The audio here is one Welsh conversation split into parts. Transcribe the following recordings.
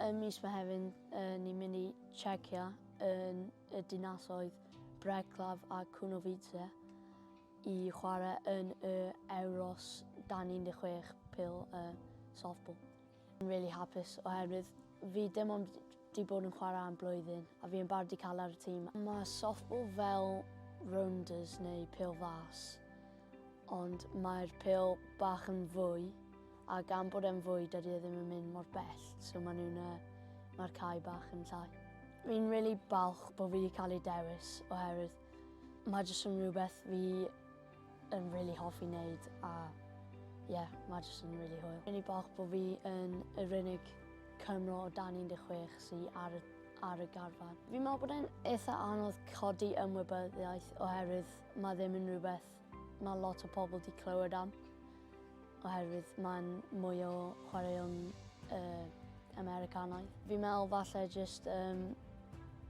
Ym mis Mehefin ni'n mynd i Czechia yn y dinasoedd Breclav a Kunovice i chwarae yn y Euros dan 16 pil y softball. Yn really hapus oherwydd fi dim ond di bod yn chwarae am blwyddyn a fi yn barod i cael ar y tîm. Mae softball fel rounders neu pil fas ond mae'r pil bach yn fwy A gan bod e'n fwyd dydy e ddim yn mynd mor bell, so maen nhw'n uh, mae'r cae bach yn llai. Fi'n really balch bod fi wedi cael ei dewis oherwydd mae jyst yn rhywbeth fi yn really hoffi wneud a ie, yeah, mae jyst yn really hwyl. Fi'n ei balch bod fi yn yr unig Cymro o dan 16 sy'n ar, ar y garfan. Fi'n meddwl bod e'n eitha anodd codi ymwybyddiaeth oherwydd mae ddim yn rhywbeth Mae lot o pobl wedi clywed am, oherwydd mae'n mwy o chwaraeon uh, Americanaidd. Fi'n meddwl falle jyst um,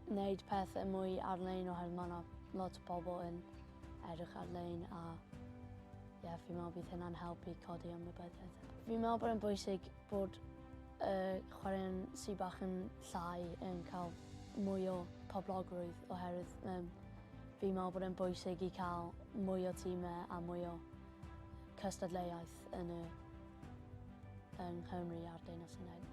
wneud pethau mwy ar-lein oherwydd mae yna lot o bobl yn edrych ar-lein a ie, yeah, fi'n meddwl bydd hynna'n helpu codi ymwybyddiaeth. Fi'n meddwl bod e'n bwysig Bod y chwaraeon sydd bach yn llai yn cael mwy o poblogrwydd oherwydd um, fi'n meddwl bod e'n bwysig i cael mwy o tîmau a mwy o cystadleuaeth yn y yng Nghymru a'r Deyrnas Unedig.